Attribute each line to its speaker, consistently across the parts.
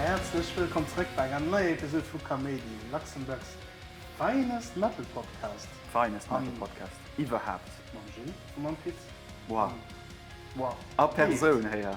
Speaker 1: Häerzlech wëllkomm zrëck bei enger neier Episode vu Kaméidi, Luxembourg's finest metal podcast. Finest metal podcast iwwerhaapt. Mam Gilles a mam Pit. Wow. Wow. A Persoun héier.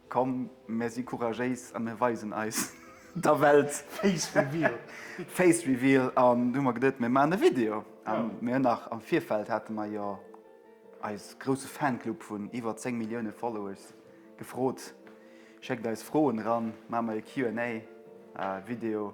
Speaker 1: Komm, mär si couragéis a mär weisen eis der Welt! Face Reveal! Face Reveal, an du hu mer geduet, mär maachen e Video. A mir hunn nach am Virfeld, hate mer jo eis grousse Fanclub vun iwwer 10 Millioune Followers gefrot, schéckt eis Froen eran, maache mer e Q&A Video.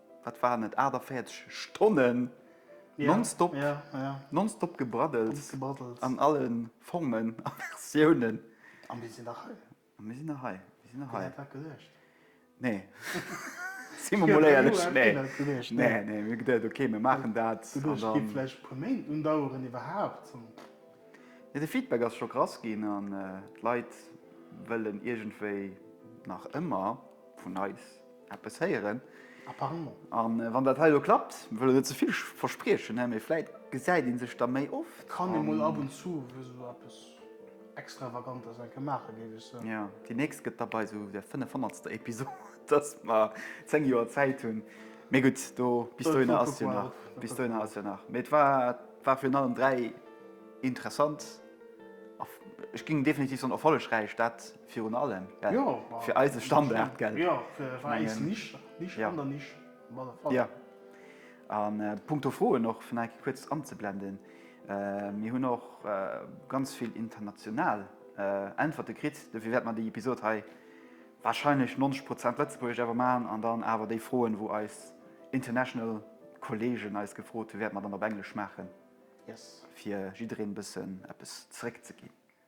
Speaker 1: wat waren et, 48 Stonnen nonstop, nonstop gebraddels an alle Formen a Versiounen. A mir sinn nach hei. A mir sinn nach hei. Mir sinn nach hei. Huet dat geluecht? Nee. Si mer mol éierlech, nee. Nee, nee, mir geduecht, ok, mir maachen dat. Geduecht, et géif vläicht e puer Méint undaueren iwwerhaapt. De Feedback ass scho krass ginn an d'Leit wëllen iergendwéi nach ëmmer vun eis. eppes héieren. Apparemment. A wann dat hei elo klappt, wëll ech net ze vill verspriechen, hä, mee vläit gesäit ee sech da méi oft. Kann ee mol ab und zu esou eppes Extravagantes eng Kéier maachen, géif ech soen. Jo, déi nächst gëtt da bei esou der fënnefhonnertster Episod, dass mer zéng Joer Zäit hunn. Mee gutt, do, bis dohinner ass jo nach, bis dohinner ass jo nach. Mee et war, et war virun allem dräi interessant a, ech géing definitiv soen, erfollegräich, dat. Virun allem fir eise Standard. Punkto Froen och fir enke kuerz anzeblenden. Mir hunn och ganz vill international Äntwerte kritt. Dofir wäerte mer déi Episod hei warscheinlech 90 Prozent Lëtzebuergesch awer maachen an dann awer déi Froen, wou eis international Kolleegen eis gefrot hunn, wäerte mer dann op Englesch maachen, fir jiddereen e bëssen eppes zeréckzeginn.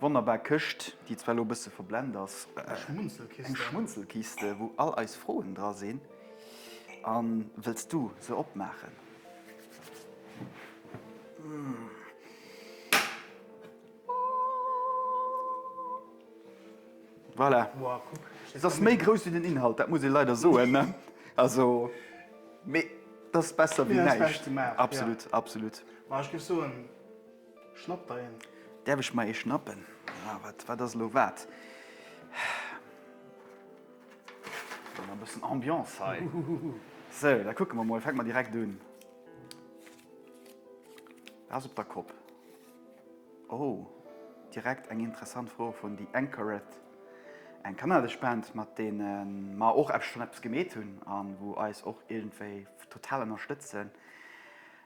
Speaker 1: Wonnerbar Këscht, déi zwar elo e bësse verblend ass. Eng Schmunzelkiste, wou all eis Froen dra sinn. A wëlls du se opmaachen? Voilà. Se ass méi grouss wéi den Inhalt, dat muss ee leider soen. Also, mee et ass besser wéi näischt. Absolut, absolut. Schnapp der een? Däerf ech mer ee schnappen? Ah, wat, wat ass elo wat? Gëtt mer e bëssen Ambiance hei. Sou, da kucke mer mol. Fänke mer direkt un. Dat ass op der Kopp. Oh, direkt eng interessant Fro vun The Anchoret, eng kanadesch Band, mat deene mer och eppes, schonn eppes gemeet hunn a wou eis och iergendwéi total ënnerstëtzen.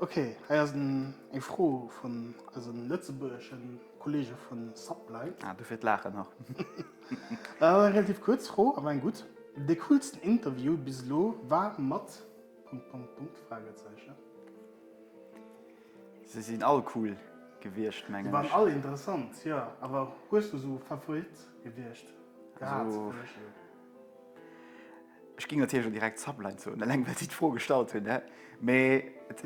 Speaker 1: Okay, hei ass eng Fro vun eise lëtzebuergesche Kolleege vu Sublight. Ah, dofir d'Laachen nach. Eng relativ kuerz Fro, awer eng gutt. De coolsten Interview bis elo war mat... Punkt, Punkt, Punkt, Fragezeichen. Se sinn all cool gewiescht, mengen ech. Se waren all interessant, jo. Awer hues du esou Favorite? Gewiescht. Gehat. Ech ging natierlech och direkt Zapline zoen, eleng well si d'Fro gestallt hunn. Et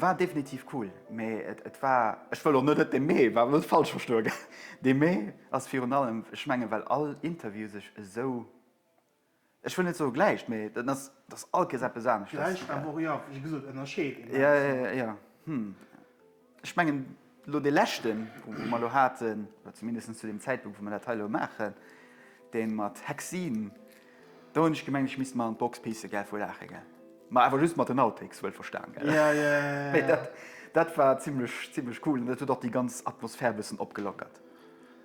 Speaker 1: war definitiv cool, mee et war, ech wëll och net, et dee Mee war, net falsch verstoe gell, dee Mee ass virun allem, ech menge well all Interview sech esou Ech wëll net soe gläicht, mee dat ass, dass all Kees eppes anescht ass. Gläicht, awer och, jo, wéi gesot, ënnerscheet een da bis méi. Jo, hm. Ech mengen, elo dee leschten, wou mer elo haten, oder zumindest zu deem Zäitpunkt, wou mer dat hei elo maachen, dee mat Hexin, do hunn ech gemengt, ech misst mer an d'Box pissen, gell, vu Laache, gell. Ma awer just mat den Outtakes, wuel verstan, gell. Jo, jo, jo, jo. Mee dat war zimlech, zimlech cool an dat huet och déi ganz Atmosphär e bëssen opgelockert.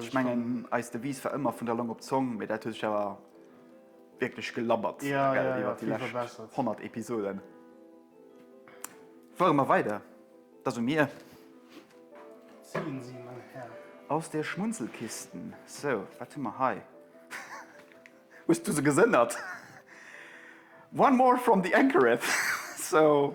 Speaker 1: Ech mengen eis Devise war ëmmer vun der Long op d'Zong, mee dat huet sech awer wierklech gelabbert iwwert déi lescht 100 Episoden. Fuere mer weider, da soe mir. Zéien Sie, mein Herr. Aus der Schmunzelkiste. Sou, wat hu mer hei? Hues du se gesënnert? One more from the Anchoreth. Sou.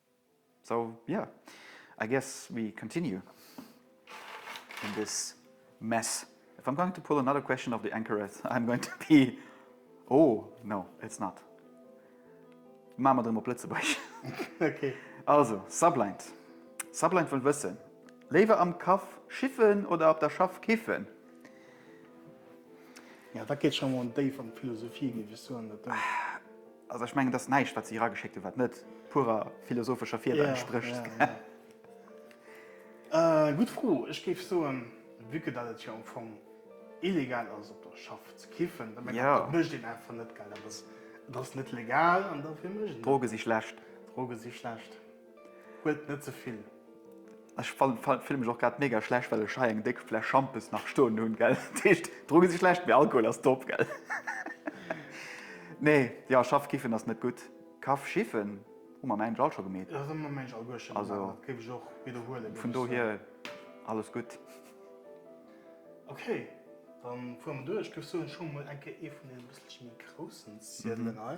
Speaker 1: So yeah, I guess we continue in this mess. If I'm going to pull another question of the Anchoreth, I'm going to be oh no, it's not. Maache mer et erëm op Lëtzebuerg. Okay. Also, Sublind. Sublind wëll wëssen, Léiwer am Kaff schiffen oder op der Schaff kiffen? Ja, dat geet scho mol déif an d'Philosophie, géif ech soen. Also ech mengen, et ass näischt, wat si erageschéckt hunn, wat net purer philosophescher Fieder entsprécht. Gutt Fro. Ech géif soen, vue que dat et jo am Fong illegal ass op der Schaff ze kiffen, da mengen ech, dat mécht een einfach net, gell. Dat ass, et ass net legal an dofir mécht een dat net. Droge si schlecht. Droge si schlecht. Huelt net ze vill. Ech fille mech och grad mega schlecht well ech hei eng déck Fläsch Schampes nach stoen hunn, gell? Dat heescht, Drogen si schlecht, mee Alkohol ass top, gell? Nee, jo, Schaff kiffen ass net gutt. Kaff schiffen hu mer mengt ech all scho gemeet. Dat hu mer mengt ech all guer scho gemeet, also dat géif ech och widderhuelen, géif ech soen. Vun dohier alles gutt. Ok, da fuere mer duer. Ech géif soen, ech hu mer mol eng Kéier ee vun deenen e bësselche méi groussen Ziedelen hei.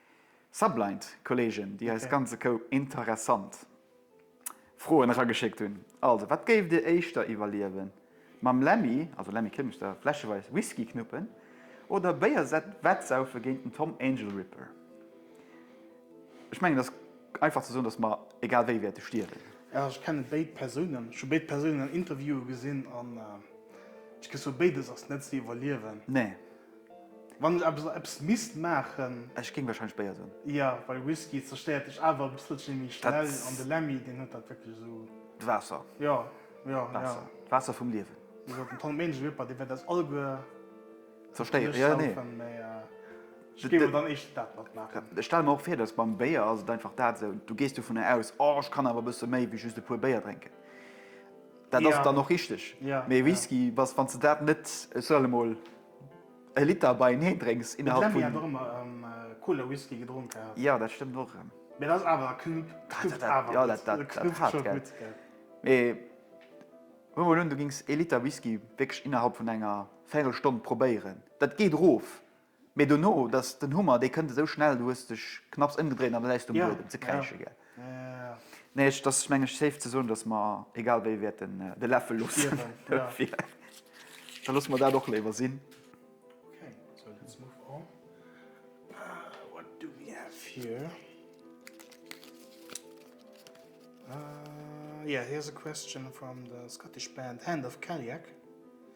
Speaker 1: Sublight Kollegen déi eis ganze Koup interessant Froen erageschéckt hunn. Also wat géift dir éischter iwwerliewen, mam Lemmy, also Lemmy Kilmister, fläscheweis Whisky knuppen oder béiersett wettsaufe géint den Tom Angel Ripper? Ech mengen et ass einfach ze soen dass mer egal wéi wäerte stierwen. Jo ech kennen béid Persounen, ech hu béid Persounen an Interviewen gesinn an ech gess soen béides ass net ze iwwerliewen. Nee. Wann ech eppes an eppes misst maachen. Ech géing wahrscheinlech Béier soen. Jo, well Whisky zerstéiert dech awer e bësselchen méi schnell an de Lemmy deen huet dat wierklech esou. D'Waasser. Jo, jo, jo. D'Waasser vum Liewen. Wéi gesot, den Tom Menische Weber, dee wäert eis alleguer. Zerstéieren, jo, nee. Saufen, mee ech géif awer dann éischter dat mat maachen. Ech stelle mer och vir, dass beim Béier ass et einfach dat esou, du gees dovunner aus, oh, ech kann awer e bësse méi wéi just e puer Béier drénken. Dat ass dann och richteg. Mee Whisky, bass, wann s de dat net, ech soen emol, e Liter beieneen drénks innerhalb vun. D'Lemmy hat och ëmmer Cola Whisky gedronk gehat. Jo, dat stëmmt och erëm. Mee dat ass awer, knuppt awer gutt. Dat ass knuppt scho gutt, gell. Mee huel mol un, du gings e Liter Whisky wierklech innerhalb vun enger Véirelstonn probéieren. Dat geet erof. Mee dono, dass den Hummer, dee kënnt esou schnell, du hues dech knapps ëmgedréint an et äis du um Buedem ze kräische gell? Nee, et ass meng ech safe ze soen, dass mer egal wéi wäerten de Läffel loossen dofir. Da loosse mer dat och léiwer sinn. Okay, so let's move on. What do we have here? Yeah, here's a question from the Scottish band Hand of Cailleach.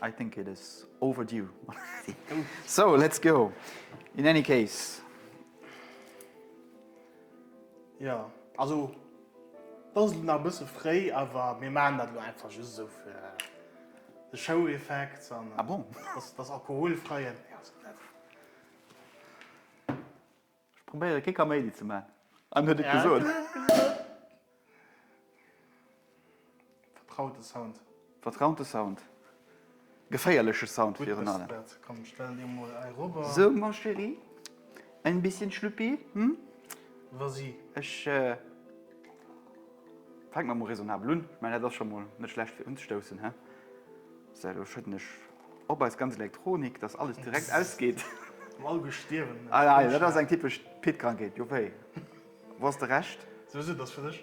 Speaker 1: I think it is overdue. So, let's go. In any case. Ja, also, das ist nach ein bisschen frei, aber wir machen das nur einfach just so für den Show-Effekt. Ah bon? Das, das Alkoholfreie. Ja, so. Ech probéieren kee Kaméidi ze maan an huet et gesoot. Vertraute Sound. Vertraute Sound. Geféierleche Sound virun allem. Gutt Mr. Bert, komm stell dir mol eirower. So ma chérie, ein bisschen Schlüppi, hm? Vas-y. Ech fänken mer mol raisonnabel un. Ech mein dat ass scho mol net schlecht fir unzestoussen, he? So do schëdden ech. Op eis ganz Elektronik, dass alles direkt ausgeet. Am all Gutt stierwen. Ei, ei, dat ass eng typesch Pit-Krankheet, jo wéi? Wou ass de Rescht? Sou, sou, dat ass fir dech.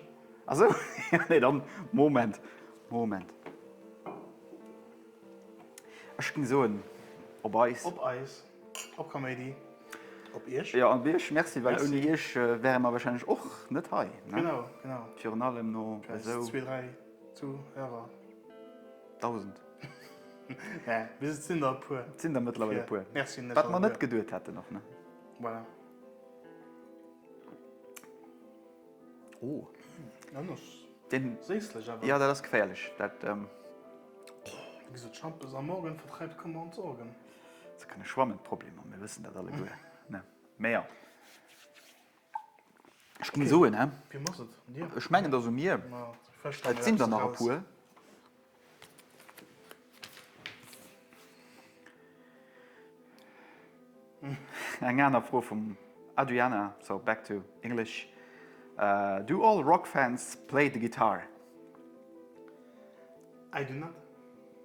Speaker 1: A sou? Jo, nee, dann, Moment, Moment. Ech géing soen, op eis. Op eis, op Kaméidi, op iech. Jo, op iech, merci, well ouni iech wäre mer warscheinlech och net hei, ne? Genau, genau. Virun allem no esou. Zwee, dräi Zuhörer. Dausend. Mee et sinn der e puer. Et sinn der mëttlerweil e puer. Wat mer net geduet hätten och, ne? Voilà. Oh. Anescht. Deen. Séislech awer. Jo, dat ass geféierlech. Dat. Wéi gesot, Schampes am Morgen vertreibt Kummer und Sorgen. Ze kënne schwammen d'Problemer, mir wëssen dat alleguer, ne? Mee jo. Ech ginn soen, hä? Wiem ass et? Dir? Ech mengen, et ass u mir. Ma vläch stelle Et mir sinn der eppes nach e eraus. puer. Eng aner Fro vum Adriana, so back to English, Do all rock fans play the guitar? I do not.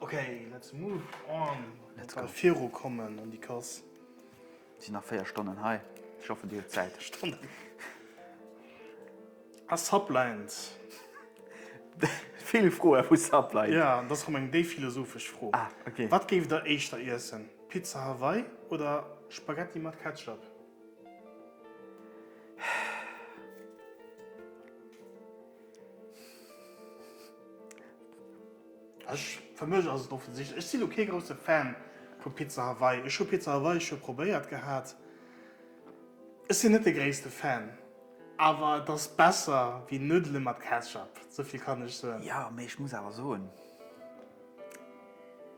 Speaker 1: Ok, let's move on. Let's go. Viru kommen an déi Kass. Et sinn nach 4 Stonnen hei. Ech hoffen, Dir hutt Zäit. Stonnen. A Sublines. Vill Froe vu Sublines. Ja, dat ass rëm eng déif philosophesch Fro. Ah, ok. Wat géift Der éischter iessen, Pizza Hawaii oder Spaghetti mat Ketchup? Ech, fir mech ass et offensichtlech. Ech sinn lo kee grousse Fan vu Pizza Hawaii. Ech hu Pizza Hawaii scho probéiert gehat. Ech sinn net de gréisste Fan, awer et ass besser wéi Nuddele mat Ketchup, sou vill kann ech soen. Jo, mee ech muss awer soen,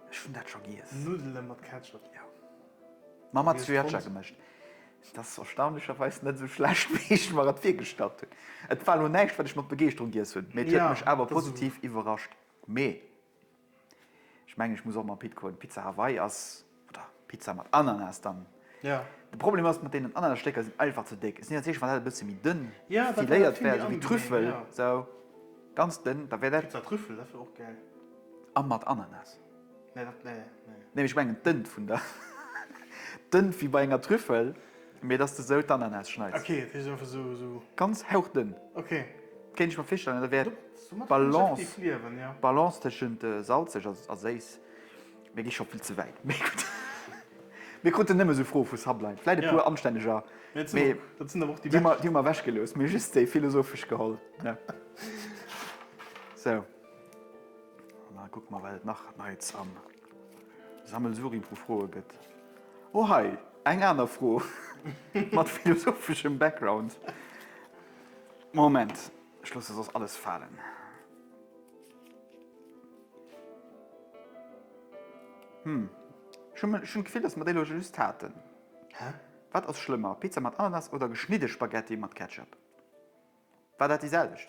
Speaker 1: ech hunn dat scho giess. Nuddele mat Ketchup? Jo. Ma mat Sriracha gemëscht. Dat ass erstaunlecherweis net esou schlecht, wéi ech mer et virgestallt hunn. Et war elo näischt, wat ech mat Begeeschterung giess hunn, mee et huet mech awer positiv iwwerrascht. Mee ech mengen, ech muss och mam Pit goen. Pizza Hawaii ass, oder Pizza mat Ananas dann. De Problem ass, mat deenen Ananasstécker, sinn einfach ze déck. Et ass nees éischt, wann dat e bësse méi dënn filéiert wär, esou wéi Trüffel, esou ganz dënn, da wär dat. Pizza Trüffel, dat wär och gäil. A mat Ananas. Nee, dat, nee, nee. Nee, ech mengen d'Ënn vun der, d'Ënn wéi bei enger Trüffel, mee dass de esou d'Ananas schneids. Ok, dat heescht einfach esou, esou. Ganz hauchdënn. Ok. Kéint ech mer virstellen, da wär d'Balance, d'Balance tëschent salzeg a séiss. Mir gi scho vill ze wäit. Mee gutt, mir kruten nëmme esou Froe vu Sublime. Vläit e puer anstänneger, mee déi hu mer ewechgelooss. Mir just déi philosophesch geholl. Sou. An da kucke mer, wat et nach Neits am Sammelsurium vu Froe gëtt. Oh hei, eng aner Fro mat philosopheschem Background. Moment, ech loosse soss alles falen. Hm, ech hunn d'Gefill, dass mer déi elo just haten. Wat ass schlëmmer, Pizza mat Ananas oder geschnidde Spaghetti mat Ketchup? War dat déi selwecht?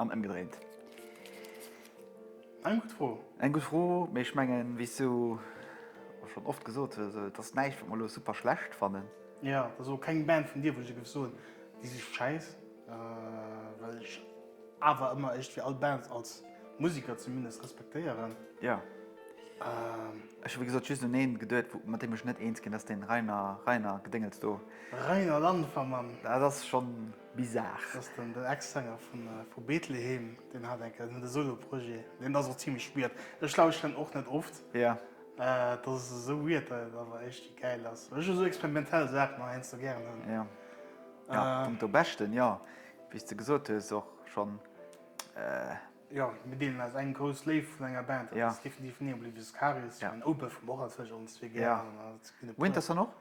Speaker 1: An ëmgedréint. Eng gutt Fro. Eng gutt Fro, mee ech mengen, wéi s du och schonn oft gesot hues, et ass näischt, wat mer elo super schlecht fannen. Jo, et ass elo keng Band vun dir, wou ech dir géif soen, déi si schäiss, well ech awer ëmmer iergendwéi all Bands als Museker zumindest respektéieren. Jo. Ech hu wéi gesot just un ee geduet, mat deem ech net eens ginn, dat ass dee Reiner, Reiner Gedéngels do. Reiner Landvermann. Dat ass schonn. Bizarre. Dass den den Ex-Sänger vun vu Betlehem, deen hat enke en Solo-Projet, deen ass och zimmlech weird. Ech lauschteren en och net oft. Yeah. Et ass esou weird, datt et awer éischti gäil ass. Ech hu esou experimentell Saachen nach heiansdo gären. Yeah. Ja, vum do Beschten, jo, wéi s de gesot hues, och schonn. Jo, mir deelen eis eng grouss Léift vun enger Band, dat ass definitiv Neon Oblivious Karies. Ech mengen Opeth hu mer och anzwousch ons zwee gären. Winterson och?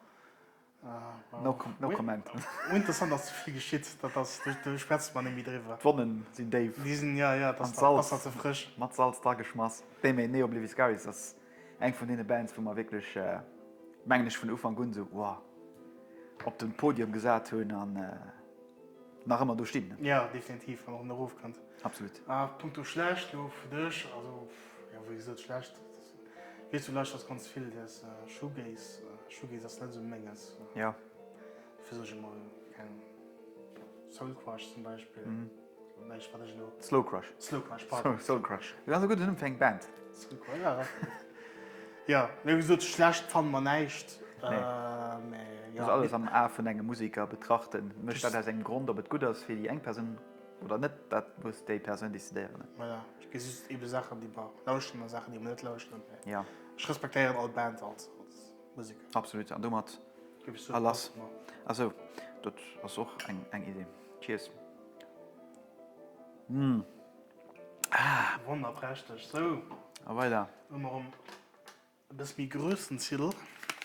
Speaker 1: No comment. Interessant ass vill geschitt, dat ass do schwätzt mer net méi driwwer. D'Wonnen sinn déif an d'Salz mat Salz drageschmass. Déi méi nee Obliviscaris ass eng vun deene Bands wou mer wierklech mengen ech vun Ufank un esou wow op den Podium gesat hunn an nach ëmmer do stinn. Jo definitiv an och nach erofkënnt. Absolut. A punkto schlecht elo fir dech, also jo wéi gesot schlecht. Weess du lauschters ganz vill des Shoegaze? Shoegaze ass net sou menges. Jo. Fir sech emol keng Soul Crush zum Beispill. Mhm. Slow Crush eng Band Ja sou schlecht fan man näicht alles am A vun engem Musiker betrachten, mécht dat ass eng Grond op et gutt ass fir déi eng Persoun. Oder net, dat muss déi Persoun decidéieren. Voilà, ech gesi just eebe Saachen, déi mer lauschten a Saachen, déi mer net lauschten. Ja. Ech respektéieren all Band als Museker. Absolut, an domat a lass. A sou, dat ass och eng Idee. Cheers. Hm. Ah. Wonnerprächteg. Sou. A weider. Hu mer ëm. E bëss méi Grössenzidel.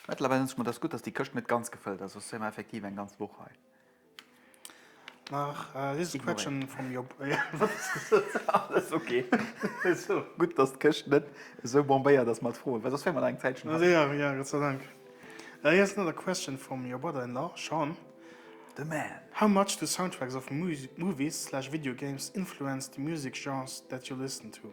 Speaker 1: Mettlerweil denken ech mer, dass gutt, dass déi Këscht net ganz gefëllt ass, soss wier mer effektiv eng ganz Woch hei. Nach dëst Quetschen vum Job. Alles ok. Gutt, dass d'Këscht net esou bombéiert ass mat Froen, well soss wier mer nach eng Zäitchen hei. Ja, ja, Gott sei Dank. Hei ass another question from your brother-in-law, Sean. The man. How much do soundtracks of movies slash video games influence the music genres that you listen to?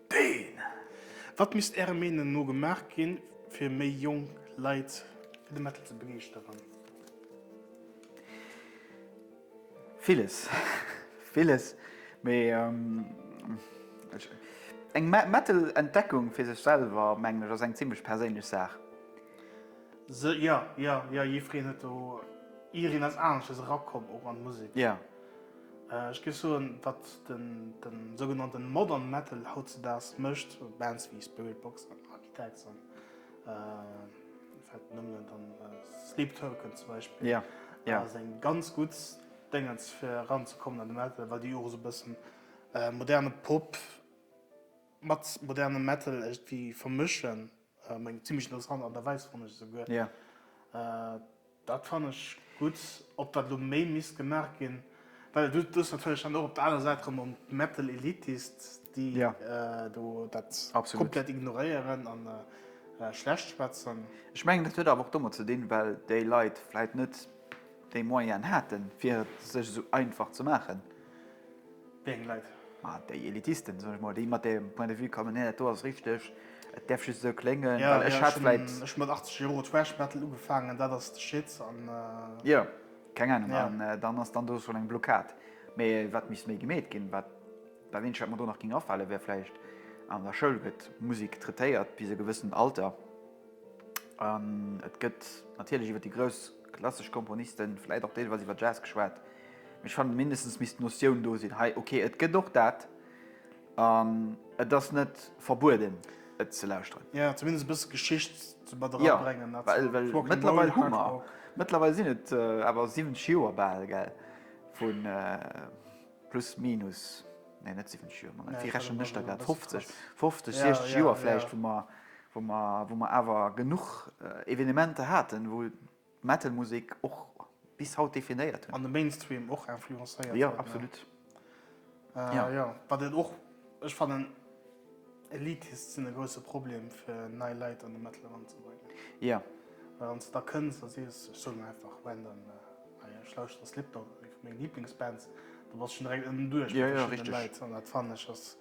Speaker 1: Deen! Wat misst Ärer Meenung no gemaach ginn, fir méi jonk Leit fir de Metal ze begeeschteren? Villes, villes. Mee eng Metal-Entdeckung fir sech selwer, mengen ech, ass eng zimlech perséinlech Saach. Se, jo, jo, jo, jiffreen huet do, jiireen ass aneschters erakomm och an d'Musek. Jo. Ech géif soen, wat de sougenannte Modern Metal hautzedaags mécht, Bands wéi Spiritbox an Architects an Sleep Token zum Beispill, ass eng ganz gutt Déngens fir eranzekommen an de Metal, well déi och esou e bëssen moderne Pop mat modernem Metal iergendwéi vermëschen. Eng zimlech interessant Art a Weis fonnt ech esouguer. Dat fann ech gutt. Ob dat elo méi misst gemaach ginn, well du hues natierlech dann och op der anerer Säit erëm en Mettel Elitist, déi do dat komplett ignoréieren a schlecht schwätzen. Ech mengen, dat huet awer och domat ze dinn, well déi Leit vläicht net déi Moyenen haten, fir et sech esou einfach ze maachen. Wéi eng Leit? Ma déi Elitisten, soen ech mol, déi mat deem Point de vue kommen, nee, dat do ass richteg, et däerf just esou kléngen, well ech hat vläit. Ech hu mat 80 Jore Thrash Metal ugefaangen, dat ass de Shit an. Jo, keng Ahnung. An dann ass dann do schonn eng Blockad. Mee wat misst méi gemeet ginn? Wat dat eenzegt, wat mer do nach géing afale wär vläicht, an der Schoul gëtt Musek traitéiert bis e gewëssent Alter an et gëtt natierlech iwwer déi grouss klassesch Komponisten, vläicht och deelweis iwwer Jazz geschwat. Ech fannen mindestens misst d'Notioun do sinn hei, ok et gëtt och dat an et ass net verbueden et ze lauschteren. Jo, zumindest e bësse Geschicht ze mat era bréngen. Jo, well well mëttlerweil hu mer, mëttlerweil sinn et awer 70 Joer bal, gell, vu plus minus, nee net 70 Joer, ma wéi rechnen ech da grad, 50, 50, 60 Joer vläicht, wou mer wou mer wou mer awer genuch Evenementer haten, wou. Metal-Musek och bis haut definéiert hunn. An de Mainstream och influencéiert huet. Jo, absolut. Jo, wat et och, ech fannen, Elitist sinn e grousse Problem, fir nei Leit an de Metal eranzebréngen. Jo. Well wann s de da kënns a sees, ech soen einfach random, hei, ech lauschteren Slipknot, meng Liblingsband, da bass schonn direkt ënnen duerch bei verschiddene Leit. An dat fannen ech ass,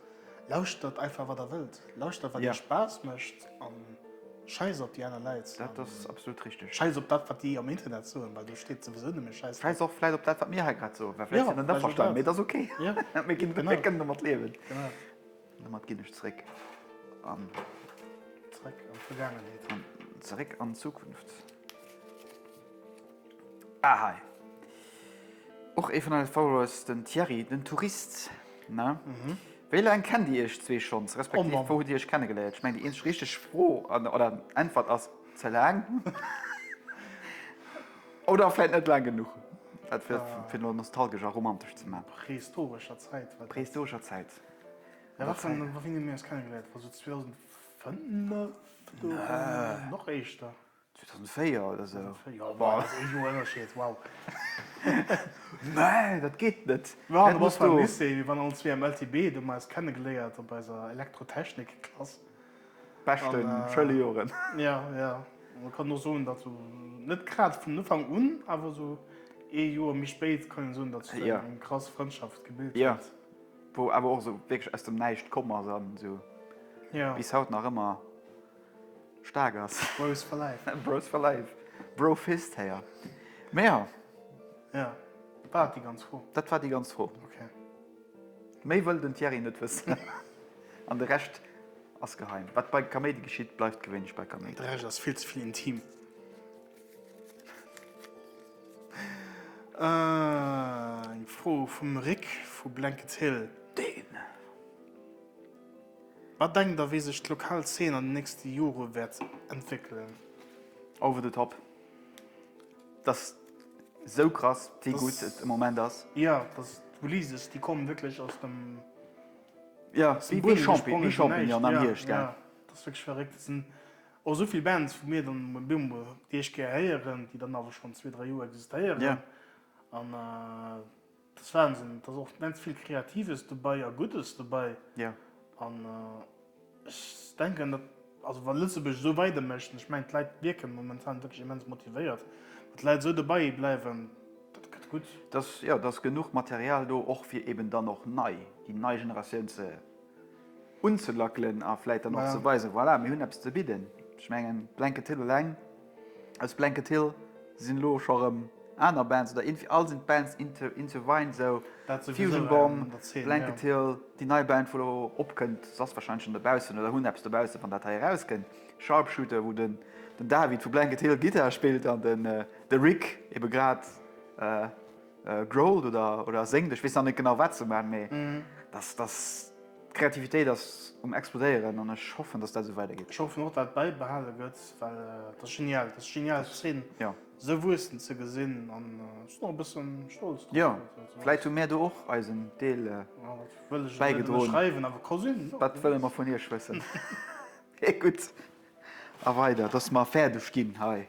Speaker 1: lauschtert einfach, wat der wëllt. Lauschtert, wat iech Spaass mécht. Scheiss op déi aner Leit. Dat ass absolut richteg. Scheiss op dat wat déi am Internet soen, well do steet souwisou nëmme Scheiss drop. Scheiss och vläit op dat wat mir hei grad soen, well vläit sinn ech net averstanen, mee et ass ok. Mir kënnen domat liewen. An domat ginn ech zréck an. Zréck an d'Vergaangenheet. An zeréck an d'Zukunft. Ah hei och ee vun eise Followers, den Thierry, den Tourist, ne? Wéi laang kennt Dir Iech zwee schonns, respektiv wou hutt Dir Iech kennegeléiert? Ech mengen déi eenzeg richteg Fro oder Äntwert ass, ze laang oder vläit net laang genuch, dat fir fir elo nostalgesch a romantesch ze man. Prehistorescher Zäit. Prehistorescher Zäit. Ja wat fir wann hu mir eis kennegeléiert, war sou 2005 do? Nö. Nach éischter? 2004 oder sou. 2004, jo, ma dat ass ee Joer Ënnerscheed, wow. Nee, dat geet net. Ma du bass beim Lycée, mir waren allen zwee am LTB, do hu mer eis kennegeléiert op eiser Elektrotechnikklass. Beschten Schëlejoren. Ja, ja. An kann och soen, datt sou net grad vun Ufank un, awer sou ee Joer méi spéit kann een soen, datt sech do eng krass Frëndschaft gebilt huet. Jo, wou awer och sou wierklech aus dem Näischt komm ass an sou bis haut nach ëmmer Staark ass. Bros for life. Bros for life. Bro fist héier. Mee jo. Jo. War dat déi ganz Fro? Dat war déi ganz Fro. Ok. Méi wëll den Thierry net wëssen. An de Rescht ass geheim. Wat bei Kaméidi geschitt, bleift gewéinlech bei Kaméidi. De Rescht ass vill ze vill intim. Eng Fro vum Rik vu Blankets Hill. Deen. Wat denkt der, wéi sech d'lokal Zeen an den nächste Jore wäert entwéckelen? Over the top. Et ass esou krass, wéi gutt et am Moment ass. Jo, et ass d'Ulises, déi kommen wierklech aus dem Buedem gesprongen, fir näischt. Jo, et ass wierklech verréckt. Et sinn och esou vill Bands, wou mir dann emol bemol déi éischt Kéier héieren, déi dann awer schonn zwee, dräi Joer existéieren. Dat ass Wahnsinn. Et ass och immens vill Kreatives dobäi a Guddes dobäi. An ech denken, datt, also wa Lëtzebuerg esou weider mécht, an ech mengen d'Leit wierke momentan wierklech immens motivéiert, wa d'Leit esou dobäi bleiwen, dat gëtt gutt. Datt, jo, datt genuch Material do och fir eben dann och nei, déi nei Generatioun ze. unzelackelen a vläit dann och ze weisen, voilà, mir hunn eppes ze bidden. Ech mengen, Blanket Hill eleng, aus Blanket Hill sinn elo scho erëm aner Bands oder irgendwie all sinn d'Bands Into Into Vine esou, Fusion Bomb, Blanket Hill, déi nei Band, wou elo opkënnt, se ass warscheinlech schonn dobaussen oder hunn eppes dobaussen, wann dat hei erauskënnt, Sharpshooter, wou den David vu Blanket Hill Gittar spillt an de Rick ebe grad. Growled oder oder séngt, ech weess nach net genau wat se maan, mee dass dass d'Kreativitéit ass um explodéieren an ech hoffen dass dat esou weider geet. Ech hoffen och dat bäibehale gëtt, well et ass genial, et ass genial d'Zeen esou wuessen ze gesinn an ech sinn och e bëssen stolz drop. Jo, vläit hu mir do och eisen Deel bäigedroen, wat wëlle mer vun iech wëssen? Gutt a weider, dass mer fäerdeg ginn hei.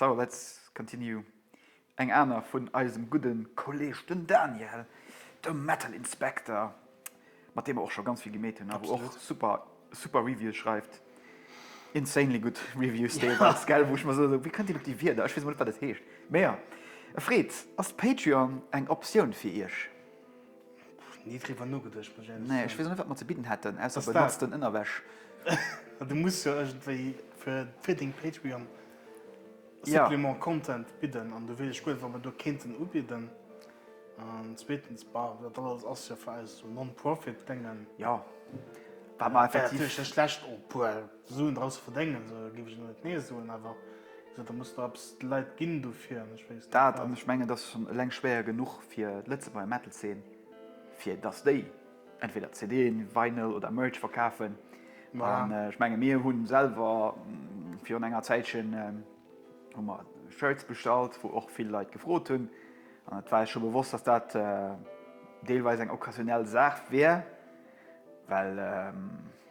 Speaker 1: So let's continue, eng aner vun eisem gudde Kolleg den Daniel, de Metal Inspector, mat deem mer och scho ganz vill gemeet hunn a wou och super super Reviews schreift, insanely gutt Reviews deelweis, gell, wou ech mer soen, wéi kënnt deen op déi Wierder, ech weess emol net wat et heescht, mä jo. E Fred, ass d'Patreon eng Optioun fir Iech? Pff, nie driwwer nogeduecht, muss ech ehrlech Nee, ech soen. weess och net, wat mer ze bidden hätten, ausser Dass dat- benutzten Ënnerwäsch. Ah, du muss jo iergendwéi fir, fir deng Patreon Ja. Supplement Content bidden an do weess ech guer net, wat mer do kéinten ubidden. An zweetens, bah, dat alles ass jo fir eis esou Non-Profit-Déngen. Jo, wat mer Wäre effektiv. natierlech net schlecht, o puer. Suen drausse verdéngen, esou géif ech net nee soen, awer da muss der eppes de Leit ginn dofir. An ech weess net wat. Dat, an ech mengen, et ass schonn eleng schwéier genuch fir d'Lëtzebuerger Metal-Zeen, fir datt déi entweder CDen, Vinyl oder Merch verkafen. An ech menge mir hu selwer virun enger Zäitchen hu mer Shirts bestallt, wou och vill Leit gefrot hunn. An et war eis scho bewosst, datt dat deelweis eng occasionell Saach wär, well.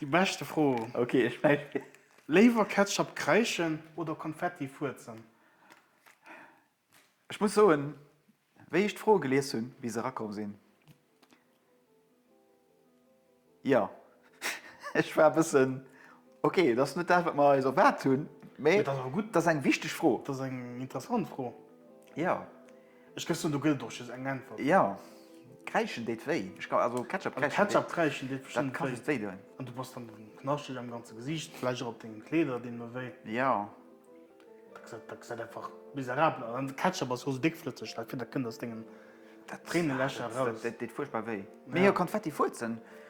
Speaker 1: Déi beschte Fro. Okay, ech schneiden. Léiwer Ketchup kreischen oder Konfetti fuerzen? Ech muss soen, wéi ech d'Fro gelies hunn, wéi se erakomm sinn, jo, ech war e bëssen, okay, dat ass net dat, wat mer eis erwaart hunn, mee dat ass eng wichteg Fro. Dat ass eng interessant Fro. Jo. Ech gëss un, do gëtt et och just eng Äntwert. Jo, kräischen deet wéi. Ech kann, also Ketchup kräischen deet. Ketchup kräischen deet bestimmt wéi. Dat kann just wéi doen. An du bass dann knaschteg am ganze Gesiicht, vläicht och op dengen Kleeder dinn mer wéi. Jo. Dat gesäit einfach miserabel aus. An de Ketchup ass jo sou déckflësseg, dat kënnt aus dengen Tréinelächer eraus. Dat deet fuerchtbar wéi. Mee jo, Konfetti fuerzen.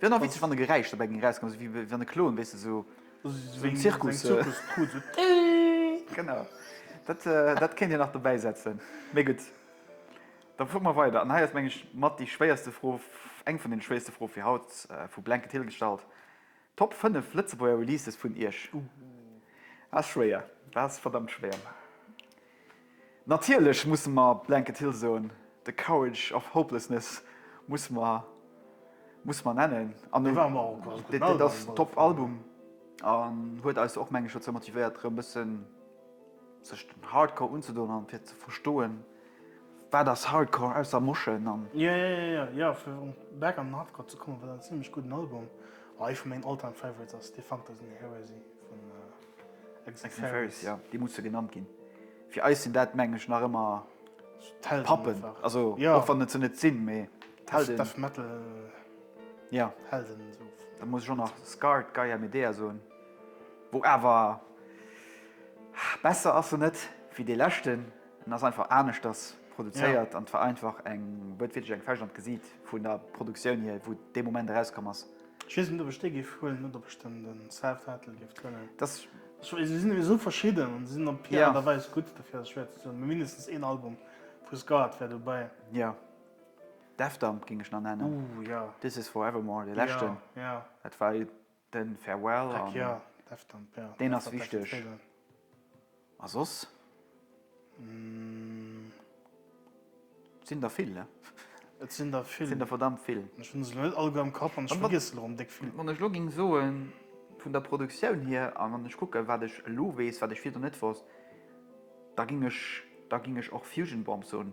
Speaker 1: Wär nach witzeg wann e Geräisch dobäi géing erauskommen, sou wéi wann e Klon, weess de, sou sou en Zirkus. Seng Zirkuskrut, sou Tiiiiit! Genau, dat dat kéint een nach dobäi setzen. Mee gutt, da fuere mer weider. An hei ass, meng ech, mat déi schwéierste Fro, eng vun den schwéierste Froe fir haut vu Blanket Hill gestallt, Top 5 Lëtzebuerger Releases vun Iech? Ass schwéier, ass verdammt schwéier. Natierlech musse mer Blanket Hill soen, The Courage of Hopelessness musse mer musse mer nennen an et et ass en top Album an huet eis och meng ech dozou motivéiert erëm bëssen sech dem Hardcore unzedoen an fir ze verstoen wat ass Hardcore ausser moschen an. Jo jo jo jo jo fir erëm back an den Hardcore ze kommen, wat en zimmlech gudden Album a ee vun mengen All-Time Favorites ass, Defunctors and Heresy vun Exaferis, jo, déi musse genannt ginn. Fir eis sinn dat, mengen ech, nach ëmmer d'Pappen, also och wann et se net sinn, mee d'Helden. Death Metal Helden esou. Da muss ech och nach Scarred, Gaia Medea soen, wou awer, besser ass se net wéi dee leschten, en ass einfach aneschters produzéiert an et war einfach eng, huet wierklech eng Fecht an d'Gesiit vun der Produktioun hier, wou dee Moment erauskomm ass. Ech weess net ob ech dee géif huelen oder ob ech den den Sav Vettel géif huelen. Dass. Ech weess se sinn ewéi esou verschidden an se sinn op hir Art a Weis gutt, dofir ass et schwéier ze soen. Mee mindestens een Album vu Scarred wär dobäi. Jo. Defdump géing ech nach nennen. Ooh jo. This Is Forevermore, dee leschten. Jo, jo. Dat war den Farewell an. Heck jo, Defdump, jo. Deen ass wichteg. A soss sinn der vill, ne? Et sinn der vill. Et sinn der verdammt vill. Ech hunn se elo net all guer am Kapp an ech vergiess se elo erëm déck vill. Wann ech elo géing soen, vun der Produktioun hier a wann ech kucken, wat ech elo weess, wat ech virdu net wosst, da géing ech, da géing ech och Fusion Bomb soen.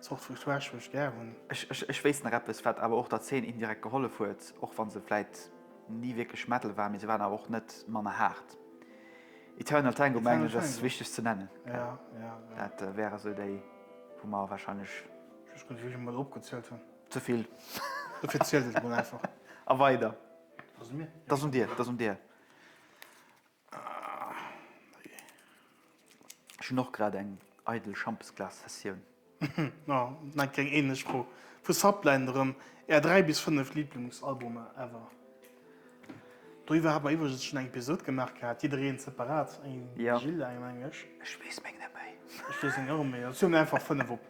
Speaker 1: Zort Feuilletage wou ech gär hunn. Ech wéisst nach eppes, wat awer och der Zeen indirekt gehollef huet, och wa se vläit ni wierklech Metal war, mee se waren awer och net manner haart. Eternal Tango mengen ech ass wichteg ze nennen. Dat wäre sou déi wou mer warscheinlech. Just kucken, wéi vill mer do opgezielt hunn. Ze vill. Dofir zielt et emol einfach. A weider. Dat ass un mir. Dat ass un dir. Dat ass un dir. Ech hunn och grad eng eidel Schampesglas-Sessioun. Na, net keng ähnlech Fro. Vu Subline erëm, Är 3 bis 5 Liblungsalbumer ever? Doriwwer hat mer iwwregens schonn eng Episode gemaach gehat, jiddereen separat, engem Gilles, engem engem ech. Ech weess meng net méi. Ech weess meng och net méi. Zähle mer einfach 5 op.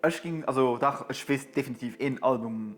Speaker 1: Ech ginn, also dach, ech weess definitiv een Album.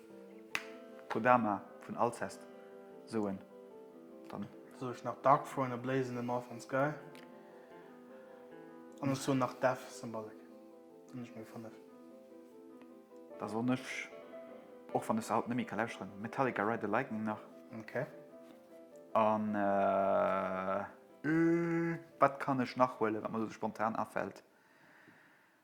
Speaker 1: Kodama vun Alcest soen dann. Soen ech nach Dark Throne a Blaze in the Northern Sky an ech soen nach Death Symbolic hunn ech mol 5. Da soen ech, och wann ech se haut net méi ka lauschteren, Metallica Ride the Lightning nach. Ok. An wat kann ech nach huelen, wat mer elo spontan afält?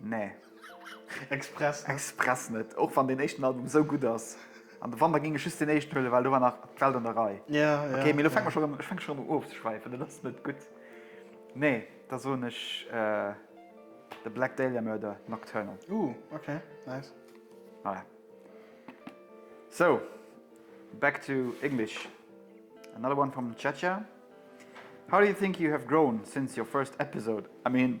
Speaker 1: Nee. Express net. Express net. Och wann deen éischten Album esou gutt ass. An de Wanter géing ech just deen éischten huelen, well do war nach d'Welt an der Rei. Ja, ja. Ok, mee elo fänke mer schonn un, ech fänke schonn un ofzeschwäifen, dat ass net gutt. Nee, da soen ech The Black Dahlia Murder, Nocturnal. Ooh, ok, nice. Voilà. So, back to English. Another one from Chacha. How do you think you have grown since your first episode? I mean,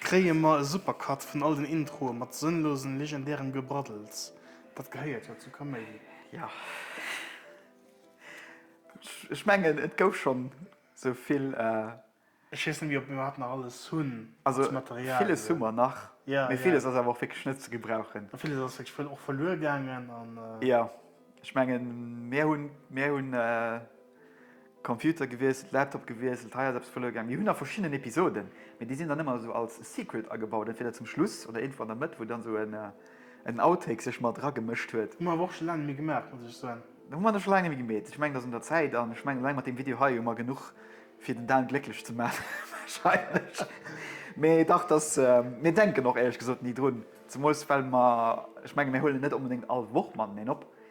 Speaker 1: kréie mer e Supercut vun all den Introe mat sënnlosen, legendärem Gebraddels, dat gehéiert jo zu Kaméidi. Jo, ech mengen, et gouf schonn sou vill. Ech weess net méi, ob mir iwwerhaapt nach alles hunn als Material. Also, villes hu mer nach, mee villes ass awer och wierklech net ze gebrauchen. A villes ass wierklech och verluer gaangen. Jo, ech mengen, mir hunn. Computer gewiesselt, Laptop gewiesselt, hei ass eppes verluer gaang. Mir hunn nach verschiddenen Episoden, mee déi sinn dann ëmmer esou als Secret agebaut, entweder zum Schluss oder iergendwou an der Mëtt, wou dann esou en Outtake sech mat eragemëscht huet. Hu mer awer och scho laang net méi gemaach, muss ech soen. Da hu mer dat scho laang net méi gemeet. Ech mengen, et ass un der Zäit. An ech mengen, eleng mat deem Video hei hu mer genuch, fir den Dan glécklech ze maachen, warscheinlech. Mee dach, dass, mir denken och, éierlech gesot, ni drun. Zemools, well mer, ech menge, mir huelen net onbedéngt all Woch mateneen op.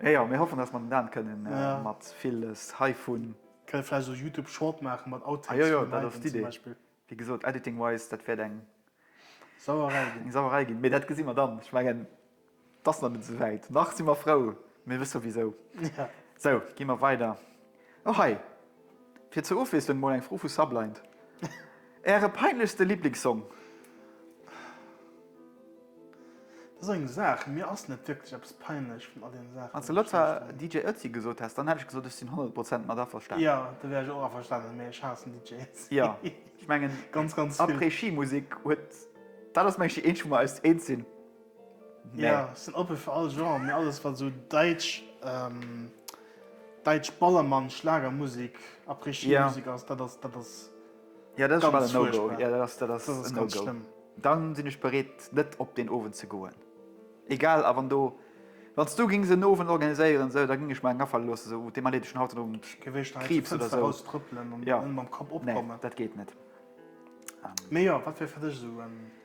Speaker 1: Eh jo, mir hoffen dass mer den Dan kënnen mat villes heivun. Kënne vläicht esou Youtube Short maachen mat Outtakes vun Liven. Ajojo, dat ass d'Idee. Wéi gesot, Editing wise, dat wäert eng Sauerei ginn. Eng Sauerei ginn, mee dat gesi mer dann. Ech mengen, et ass nach net esou wäit. Nach si mer frou, mir wësse souwisou. Sou, gi mer weider. Och hei, fir zur Ofwiesslung mol eng Fro vu Sublind. Äre peinlechste Liblingssong? Dat ass eng Saach, mir ass net wierklech eppes peinlech vun all deene Saachen. Wanns de letscher DJ Ötzi gesot häss, dann hätt ech gesot, ech sinn 100 Prozent mat averstanen. Jo, do wär ech och averstanen, mee ech haassen DJ Ötzi. Jo, ech mengen, Ganz, ganz vill. Après-Ski-Musik huet, dat ass mengen ech déi eenzeg, wou mer eis eens sinn. Jo, ech sinn oppe fir all Genre, mee alles wat esou däitsch, däitsch Ballermann, Schlagermusik, Après-Ski-Musik ass, dat ass, dat ass ganz fuerchtbar. Dat ass ganz schlëmm. Dann sinn ech bereet net op deen Owend ze goen. Egal, a wann do, wann s du gings en Owend organiséieren esou, da ging ech mer eng afale loossen esou, oh, dee Mann huet ech schonn haut den Owend Kriibs oder esou. Jo, nee, dat geet net. Mee jo, wat wier fir dech esou en?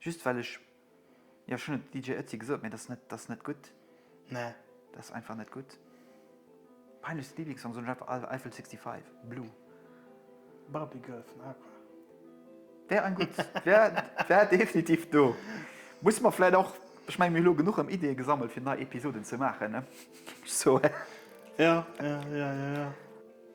Speaker 1: Just well ech, jo ech hunn et DJ Ötzi gesot, mee dat ass net, dat ass net gutt, nee dat ass einfach net gutt. Peinlechste Liblingssong soen ech einfach Eiffel 65, Blue. Barbie Girl vun Aqua. Wär en gutt, wär definitiv do. Musse mer vläit och, ech mengen mir hu lo genuch erëm Ideeë gesammelt fir nei Episoden ze maachen, ne? Ech soe. Ja, ja, ja, ja, ja.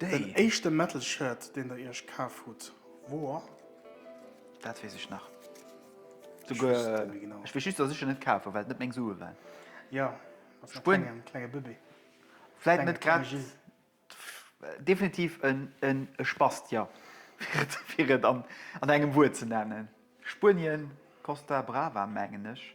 Speaker 1: Den éischte Metal Shirt deen der iech kaf hutt wor? Dat wees ech nach. Ech wees et net méi genau. Ech wees just dass ech en net kaf hu well et net meng Sue waren. Jo, als nach klengen, klenge Bëbee. Vläit net grad, definitiv en Spast, jo, fir et an engem Wuert ze nennen. Spuenien, Costa Brava mengen ech.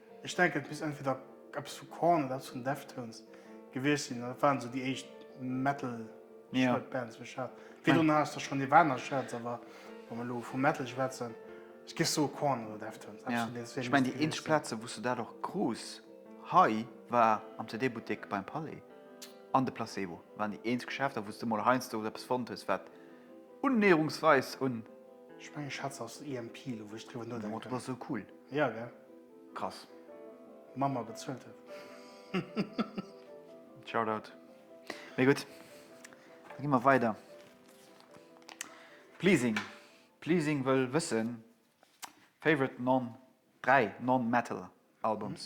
Speaker 1: Ech denken et misst entweder eppes vu Korn oder eppes vun Deftones gewiescht sinn, dat waren esou déi éischt Metal Shirt Bands wou ech hat. Vill dono haass der schonn Nirvana Shirts, awer wa mer elo vu Metal schwätzen, ech géif soe Korn oder Deftones, eppes vun deenen zwee misst et gewiescht sinn. Ech mengen déi eenzeg Plaze wou's du dat och krus hei war am CD Buttek beim Palais an de Placebo, waren déi eenzeg Geschäfter wou's du mol heiansdo eppes fonnt hues wat unnäherungsweis un. Ech mengen ech hat se aus dem EMP elo wou ech driwwer nodenken. D'Motto war sou cool. Jo gell. Krass. Mama bezuelt et. Shoutout. Mee gutt, da gi mer weider. Pleasing Pleasing wëll wëssen, Favorite non 3 non-metal albums?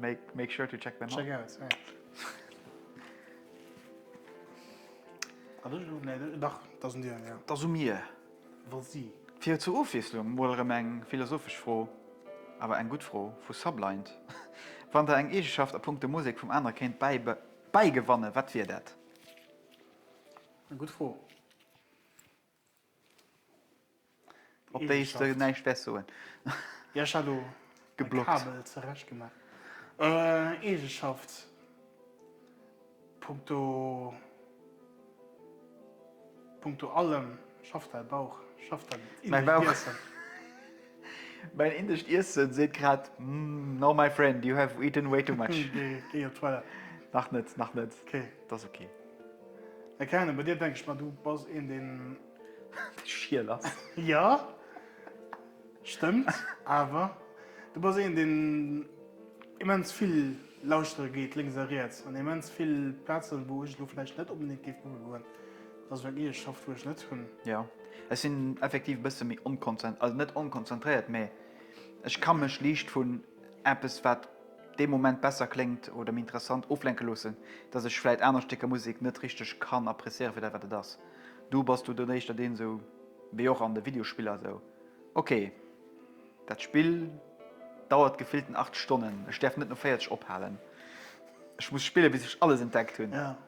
Speaker 1: Make sure to check them Fir zur Ofwiesslung mol erëm eng philosophesch Fro, awer eng gutt Fro, vu Sublind, Wann der eng Eegeschaft a punkto Musek vum anere kéint bäigewannen, wat wier dat? Op déi ech sou näischt wäert soen. Jo, ech hat elo mäi Kabel zerecht gemaach. Eegeschaft, punkto, punkto allem schafft däi Bauch, schafft dat Innewiesen. Mäin indescht Iessen seet grad, No my friend, you have eaten way too much. Géi op d'Toilette. Nach net, nach net. Ok. Dat ass ok. Mä keng Ahnung, bei dir denken ech mer, du bass een deen. Dee schiel ass. Jo, stëmmt. Awer du bass een deen immens vill lauschtere geet, lénks a riets, an immens vill Plazen, wou ech elo vläicht net onbedéngt géif goe goen. Dass ech eng Eesch schaff wou ech net hunn. Jo, ech sinn effektiv e bësse méi onkonzent, also net onkonzentréiert, mä ech ka mech liicht vun eppes, wat dee Moment besser kléngt oder méi interessant, oflenke loossen, dass ech vläit aner Stécker Musek net richteg kann appréciéieren fir dat, wat et ass. Du bass du dann éischter deen esou, wéi och an de Videospiller esou, ok, dat Spill dauert gefillten 8 Stonnen, ech däerf net no 40 ophalen, ech muss spillen, bis ech alles entdeckt hunn.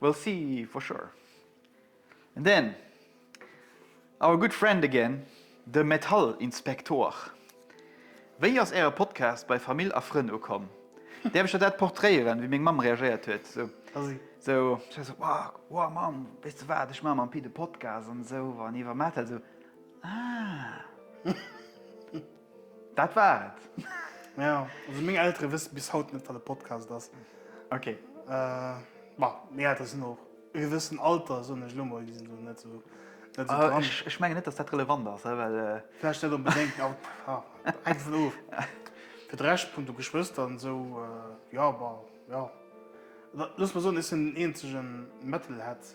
Speaker 1: We'll see for sure. And then our good friend again, de Metallinspektor. Wéi ass äre Podcast bei Famill a Frënn ukomm? Däerf ech der dat portréieren, wéi meng Mamm reagéiert huet? Sou, Wow, Mamm, weess de wat, ech maache mam Pit e Podcast an esou an iwwer Metal. Sou, Ah. Dat war et. Ja, also meng Eltere wësse bis haut net, wat e Podcast ass. Ok. Bon, meng Eltere sinn och e gewëssen Alter, soen ech elo mol, déi sinn do net esou dran. Ech menge net, datt dat relevant ass, well. Vläicht net onbedéngt, ma bon, hänkt dovun of. Fir de Rescht, punkto Geschwëster an esou, jo, bon, jo. Looss mol soen, ech sinn den eenzegen Metalhead.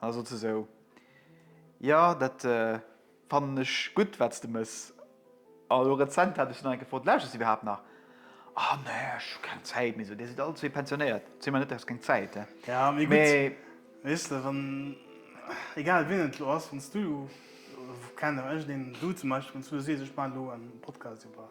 Speaker 1: An da sot se esou, Jo, dat fannen ech gutt, wat s de mëss. A lo rezent hat ech se nach eng Kéier gefrot, Lauschters de iwwerhaapt nach? O nee, ech hu keng Zäit méi. Dir sidd all zwee pensionéiert, zitt mer net aus, keng Zäit. Jo, mee gutt, weess de, wann, egal wien et elo ass, wann s du elo, kenne ech deen, du zum Beispill, wann s du elo sees, ech maachen elo e Podcast iwwer.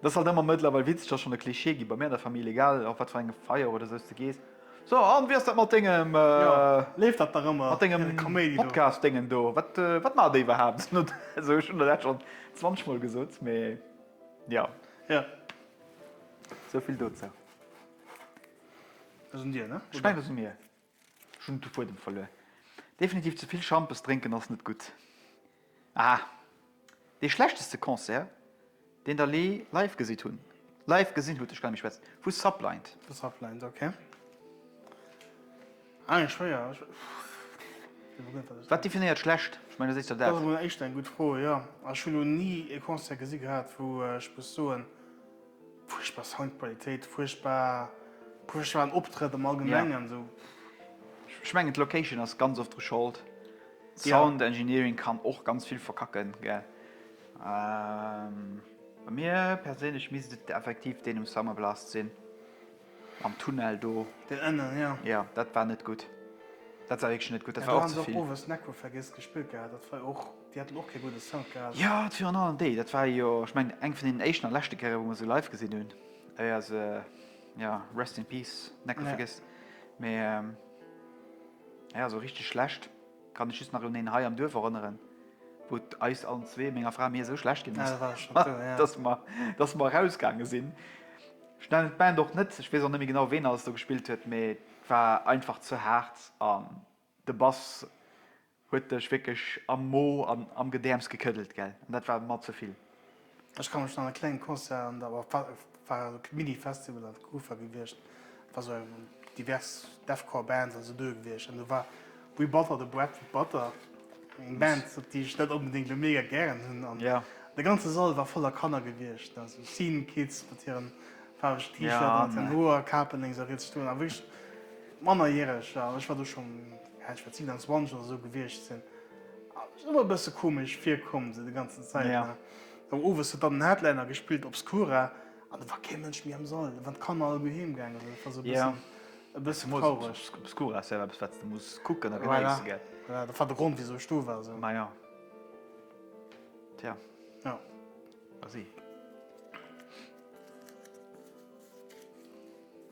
Speaker 1: Et ass halt ëmmer mëttlerweil Witzeger schonn e Klischee ginn, bei mir an der Famill, egal op wat fir engem Feier oder sou s de gees, So, an wéi ass dat mat dengem, léift dat dach ëmmer, mat dengem Podcast-Déngen do, wat, wat maacht dee iwwerhaapt? An do, also ech hunn der dat schonn zwanzeg mol gesot, mee jo. Jo. Sou vill dozou. Dat sinn dir, ne? Ech mengen, dat si mir. Ech hunn de Fuedem verluer. Definitiv ze vill Schampes drénken ass net gutt. Aha, dee schlechteste Concert deen der lee live gesitt hunn, live gesinn hutt, ech kann net méi schwätzen, vu Sublind. Vu Sublind, ok. Aah, schwéier, ech wéi net wat ech soen. Wat definéiert schlecht? Ech mengen, da seet der dat. Dat ass emol éischter eng gutt Fro, jo. Ech hunn lo ni e Concert gesi gehat wou ech muss soen. Fuerchtbar Soundqualitéit, fuerchtbar, fuerchtbaren Optrëtt am Allgemengen sou. Ech mengen d'Location ass ganz oft dru Schold. Sound Engineering kann och ganz vill verkacken gell. Bei mir perséinlech misst et effektiv deen um Summer Blast sinn. Am Tunnel do. Den ënnen, jo. Jo, dat war net gutt. Dat war wierklech net gutt. Dat war och ze vill. Do hu se och owes Necro vergiess gespillt gehat. Dat war jo och, déi haten och kee gudde Sound gehat. Jo, virun allem déi. Dat war jo, ech mengen, eng vun deenen éischten a leschte Kéiere wou mer se live gesinn hunn, éier se, jo, rest in peace, Necro vergiess. Mee, jo, esou richteg schlecht. Kann ech just nach un een hei am Duerf erënneren, wou et eis allen zwee, menger Fra a mir, esou schlecht ginn ass, dass mer, dass mer erausgaange sinn. Ech nennen d'Band och net, ech weess och net méi genau, ween alles do gespillt huet, mee et war einfach ze haart an de Bass huet dech wierklech am Mo an am Gedäerms gekëddelt, gell. An dat war mer ze vill. Ech kann mech nach an e klengen Concert an der, war also kee Mini-Festival, an der Kufa gewiescht, war sou eng divers Deathcore Bands an sou doe gewiescht, an do war We Butter the Bread with Butter, eng Band op déi ech net onbedéngt elo mega gären hunn, an de ganze Sall war voller Kanner gewiescht, ne, sou Scene Kids mat hiren faarwegen T-Shirten an hiren hoer Kapen lénks a riets stoen, a wierklech Mannerjäreger, an ech war do schonn, ja, ech wäert 27 oder sou gewiescht sinn. Ass och e bësse komesch virkomm sou déi ganzen Zäit ne. Awer owes huet dann den Headliner gespillt Obscura an do war kee Mënsch méi am Sall, wann d'Kanner all goe heem gaange sinn. Et war sou e bëssen e bëssen traureg. Obscura ass jo awer eppes wat s de muss kucken a genéisse gell. Voilà, dat war de Grond wisou ech do war sou. Maja. Tja. Jo. Merci.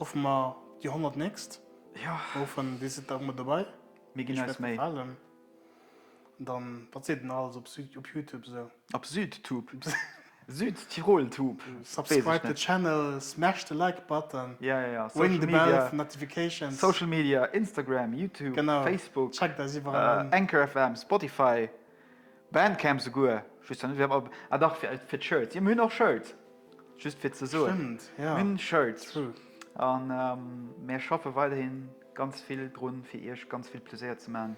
Speaker 1: Ruffe mer déi 100 nächst Wochen, déi sidd da mat dobei. Mir ginn eis Méi. Dann wat seet een alles op Youtube esou? Op Südtube? Südtiroltube? Subscribe the channel, smash the like button, ring the bell for notifications. Social Media, Instagram, Youtube, Facebook, Anchor FM, Spotify. Bandcamp souguer, just net fir Album, ah dach fir fir d'Shirts, jo mir hunn och Shirts, just fir ze soen, Stëmmt, mir ja, hunn Shirts true. an mir schaffe weiderhi ganz vill drun, fir iech ganz vill Pleséier ze man.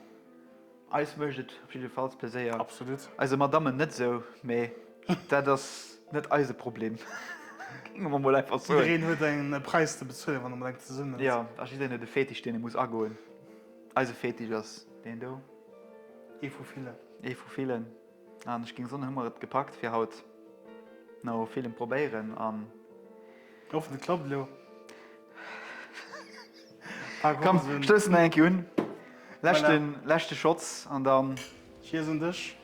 Speaker 1: Eis mécht et op jiddefalls Pleséier, Absolut. eise Madammen net esou, mee dat ass net eise Problem, géinge mer mol einfach soen. Jiddereen huet en Präis ze bezuelen, wann e mat enkm zesummen ass. Jo, a jiddereen huet e Fetisch, deen e muss agoen. Eise Fetisch ass deen do. Ee vu villen. Ee vu villen. An ech géing soen, hu mer et gepackt fir haut. No villem Probéieren an. Hoffen et klappt elo. Komm, stousse mer eng Kéier un. Leschte Shots an dann. Cheers un dech.